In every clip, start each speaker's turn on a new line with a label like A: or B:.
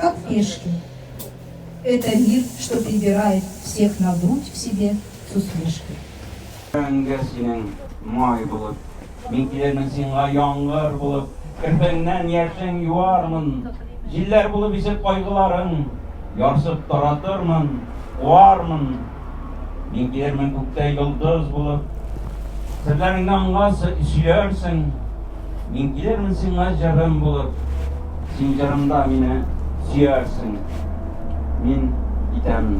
A: Как пешки. Это мир, что прибирает всех на грудь в себе с усмешкой. Мәңге синең
B: май булып. Мин килермен сиңа яңгыр булып. Керфеңнән яшең юармын. Җилләр булып исеп кайгыларың. Ярсып таратырмын, куармын. Мин килермен күктә йолдыз булып, Серләреңне аңлар, сөйләрсең. Мин килермен сиңа җырым булып, Син җырымда мине сөярсең. Мин китәм.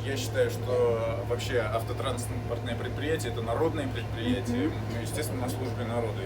C: Я считаю, что вообще автотранспортное предприятие это народное предприятие, естественно, на службе народа.